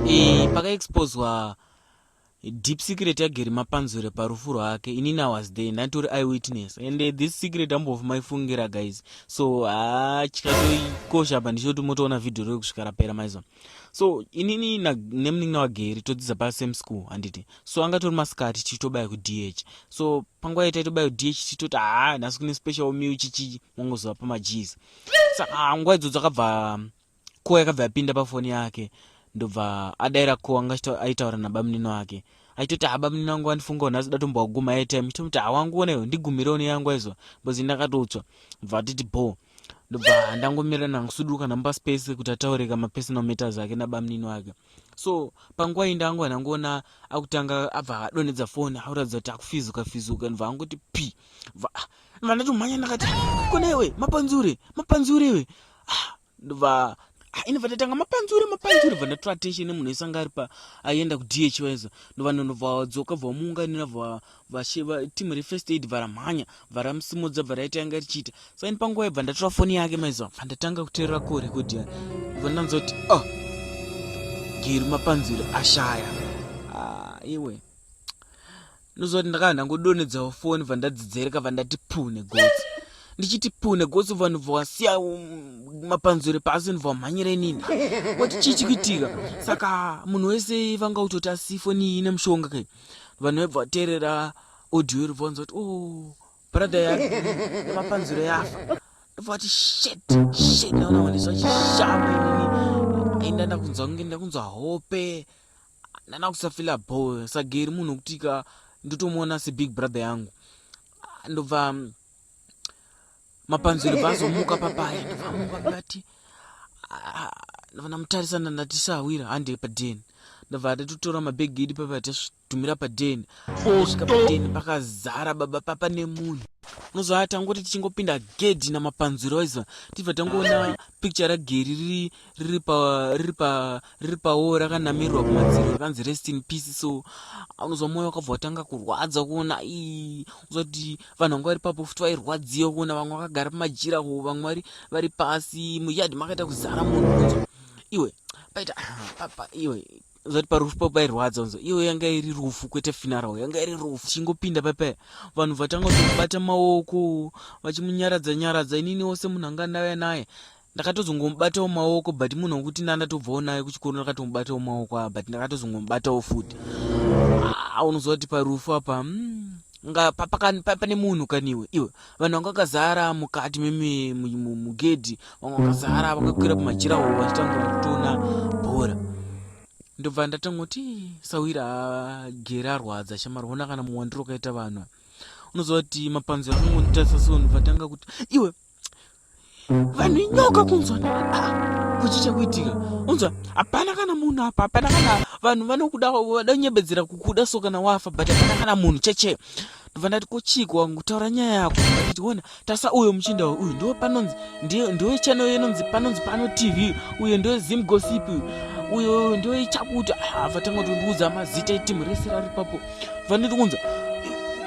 e, pakaexposwa deep secret yageri mapanzure parufu rwake inini was there ndanditori iwitness and eh, this secret ambofu maifungira guys so ah, chikatoikosha apa ndichoti motoona vhidhiyo roi kusvika rapera maizwa so inini nemunin'ina wageri todzidza pasame school handiti so anga tori masikati tichitobaya kudh so panguva yaita itobaya kudh tichitoti haa ah, nhasi kune special meal chichii mongoziva pamajees saka ah, nguva idzodzo akabva Kowa yakabva yapinda pafoni yake ndobva adaira kowa anga aitaura nabamunini wake aitoti habamunini wangu wandifungawo nhasi datombowa kuguma airtime chitomuti hawangu onewo ndigumirewo neyangu aizwa bcoz ndakatotswa bva atiti bhoo ndobva ndangomira nangusuduka namupa space kuti ataure ka mapersonal matters ake nabamunini wake so panguva iyi ndangova ndangoona akutanga abva adonhedza foni auratidza kuti akufizuka fizuka ndobva angoti p bva ah, ndatomhanya ndakati ah, kona iwe mapanzure mapanzure iwe ah, ndobva ah, ini bva ndatanga mapanzure mapanzure bva ndatora attention emunhu ese anga ari pa aienda kudh waizo ndobva ndonobva wadzoka bva wamuunganira bva team refirst aid bva ramhanya bva ramusimudza bva raita yanga richiita so ini panguva yebva ndatora foni yake maizo bva ndatanga kuteerera ko record ya ndobva ndanzoti o oh, geri mapanzure ashaya ah, iwe ah, Ndoziva kuti ndakanga ndangodonedzawo foni bva ndadzidzereka bva ndati puu negotsi ndichiti puu negotsi bva ndobva wasiya um, mapanzure pasi ndobva wamhanyira inini wati chii chikuitika saka munhu wese vanga utoti asi foni iyi ine mushonga kai vanhu vaibva vateerera audio iri bvanza kuti o oh, brother yake nemapanzure yafa ndobva wati shet shet naona wandiswa chishamba inini ainda ndakunzwa kunge ndakunzwa hope ndana kusafila bho sageri munhu wekuti ka ndotomuona sebig brother yangu ndobva mm, mapanziro bvazomuka papaya ndobvamuka ndati ah, ndobva ndamutarisana ndati sahwira handi padeni ndobva atatotora mabhegi idi papa tatumira padeni osvika padeni pakazara baba papa nemunhu unozvaa tangoti tichingopinda gedhi namapanziro aiziva tibva tangoona picture rageri riri riri pa riri pa riri pawo rakanamirwa kumadziro rakanzi rest in peace so unozwa mwoyo wakabva watanga kurwadza kuona i uzoti vanhu vanga vari papo futi vairwadziwa kuona vamwe vakagara pamajira ho vamwe vari vari pasi muyadi makaita kuzara munhu unzwa iwe paita papa iwe zati parufu papa irwadza unzwa iyo yanga iri rufu kwete finarao yanga iri rufu chingopinda papa vanhu vatanga kutobata maoko vachimunyaradza nyaradza inini wose munhu anga ndauya naye ndakatozongomubatawo maoko but munhu wekuti ndandatobvawo naye kuchikoro ndakatomubatawo maoko aa but ndakatozongomubatawo futi aunoziva ah, kuti parufu apa mm, nga pane munhu kaniwe iwe vanhu vanga vakazara mukati mugedhi vanga vakazara vakakwira pamajira wo vachitanga kutona bhora ndobva ndatangoti sawira agere arwadza shamari ona kana muwandiro ukaita vanhu unoziva kuti mapanziro akangonditarisa so ndobva tanga kuti iwe vanhu inyoka kunzwa ah, kuchi chekuitika unzwa hapana kana munhu apa hapana kana vanhu vanokuda vada kunyebedzera kukuda so kana wafa but hapana kana munhu cheche ndobva ndati kochiko wangu kutaura nyaya yako nditi ona tasa uyo muchinda uyu ndiwo panonzi ndiwo channel yenonzi panonzi pano tv uyo ndiwo zim gossip uyo ndiwo ichakuti ah, vatanga tondiudza mazita etimu rese rari papo vandiri kunza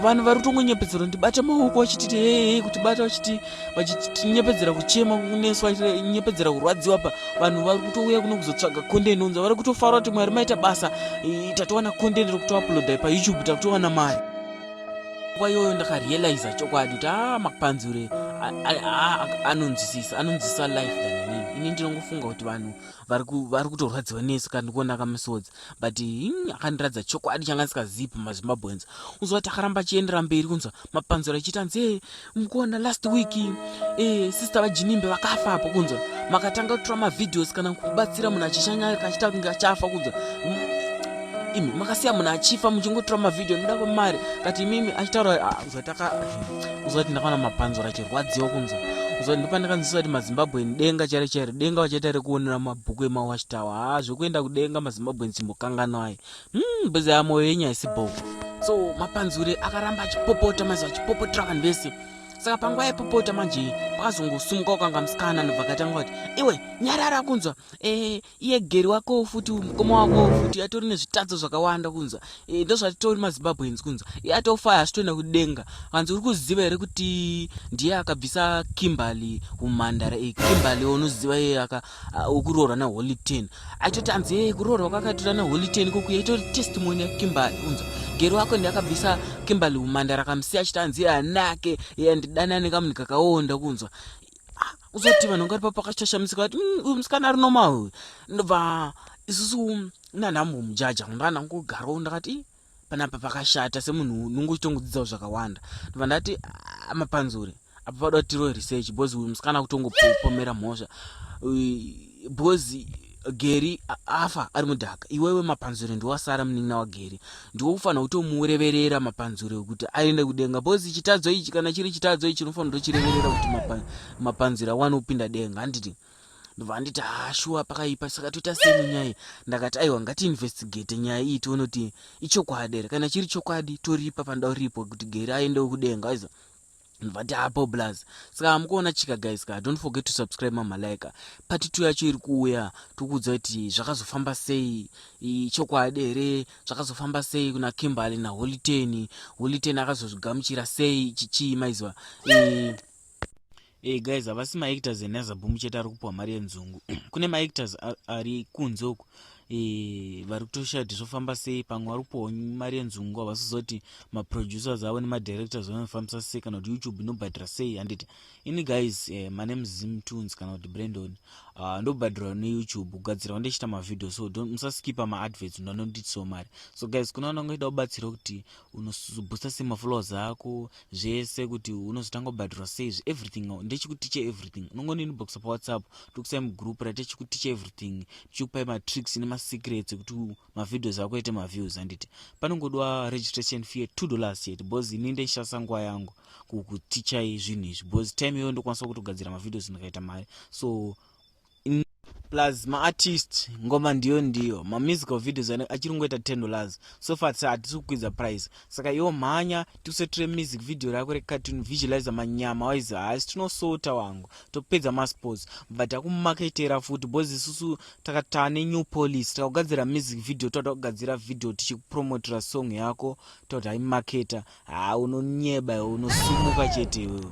vanhu vari kutongonyepedzera ndibata maoko vachititi hee kuti bata vachiti vachitinyepedzera kuchema kunesu vachinyepedzera kurwadziwa pa vanhu vari kutouya kuno kuzotsvaga kondeni unza vari kutofara kuti mwari maita basa tatowana kondeni rekutoapulodai payoutube takutowana mari nguva iyoyo ndakarealiza chokwadi kuti a ah, mapanzure anonzwisisa anonzwisisa life than inini ini ndinongofunga kuti vanhu vari kutorwadziwa nesu kana ndikuonaka misodzi but hmm, akandiratidza chokwadi changa ndisingazivi pamazimbabweans unzwa kuti akaramba achiendera mberi kunzwa mapanzura achiita hanzi e eh, mukuona last week e sister vajinimbe vakafa apo kunzwa makatanga kutora mavhidhios kana kubatsira munhu achishanya kachiita kunge achafa kunzwa imi makasiya munhu achifa muchingotora mavhidhio noda kwamari kati imimi achitaura ah, uzataka uzati ndakaona mapanzura chirwadziwa kunza uzati ndopandakanzisa kuti mazimbabweni denga chairo chairo denga vachaita rekuonera mabhuku emawashtawa haa zvekuenda kudenga mazimbabweni simbokanganwa ayi hmm, bhezi ya moyo yenyu haisi bho so mapanzure akaramba achipopota maizi vachipopotera vanhu vese saka panguva yaipopota manje pakazongosumuka ukanga musikana anobva akatanga kuti iwe nyarara kunzwa e, iye geri wakowo futi uyu mukoma wakowo futi atori nezvitadzo zvakawanda kunzwa e, ndozvatitori mazimbabweans kunzwa iye atofaya asitoenda kudenga hanzi uri kuziva here kuti ndiye akabvisa kimberly humhandara e, kimberly unoziva iye wekuroorwa naholy ten aitoti hanzi e, kuroorwa kwakaitora naholy ten kokuya itori testimony yakimberly kunzwa geri wako ndiye akabvisa kimberly humhandara kamusiya achiti hanzi iye anake iye andidanane kamunhu kakaonda kunzwa Ah, uzoti vanhu ngari papakashashamusika vati "Mm, uyu musikana ari normal uyu ndobva isusu nanhambo mujaja ndana ngogaroo ndakati "Ih, panapa pakashata semunhu unonge uchitongodzidzawo zvakawanda ndobva ndati "Ah, mapanzure apa padoda tiroe research bhozi uyu musikana kutongopomera mhosva Uy, because geri afa ari mudhaka iwewe mapanzure ndiwasara munin'ina wageri ndiwokufanira kutomureverera mapanzure kuti aende kudenga bcause chitadzo ichi kana chiri chitadzo ichi unofanira kutochireverera kuti mapanzure awane kupinda denga handiti ndobva anditi hashuwa ah, pakaipa saka toita seni nyaya iyi ndakati aiwa ngatiinvestigate nyaya iyi tione kuti ichokwadi here kana chiri chokwadi toripa panoda uripo kuti geri aendewo kudenga aiza vati hapo blaz saka hamukuona chika guys ka don't forget to subscribe mamalaika pati two yacho iri kuuya tokuudza kuti zvakazofamba sei chokwadi here zvakazofamba sei kuna kimberly naholiteni holiteni akazozvigamuchira sei chichii maiziva Hey guys havasi maactors enazaboom chete ari kupiwa mari yenzungu kune maactors ari kunze uku Eh, vari kutoshaya kuti zvofamba sei pamwe vari kupiwa mari yenzungu havasizoti maproducers avo nemadirectors vanofambisa sei kana kuti youtube inobhadhira sei handiti ini guys eh, my name zim tunes kana kuti brandon uh, ah, ndobhadhirwa neyoutube kugadzirawo ndichiita mavhideo so musaskipa maadverts ndanonditiwo mari so guys kuna vanangoida kubatsira kuti unozobusta sei maflows ako zvese kuti unozotanga kubhadhirwa sei everything ndechikuticha everything unongoninibokisa pawhatsapp tokusai mugroup rate chikuticha everything ndichikupai matricks nemasecrets ekuti mavideos ako ete maviews handiti panongodowa registration fee two dollars chete bcause ini ndenshandisa nguva yangu kukutichai zvinhu izvi bcause time iyoyo ndokwanisa kutogadzira mavideos ndikaita mari so plus maartist ngoma ndiyo ndiyo mamusical videos achiri kungoita ten dollars so far sa hatisi kukwidza price saka iwo mhanya tikusetire music video rako recartoon visualize manyama waizi haasi tinosota wangu topedza masports but takumaketera futi bcoz isusu takataa nenew police takugadzira music video toda kugadzira video tichikupromotera song yako toda imaketa haa unonyeba iwe unosumuka chete iwewe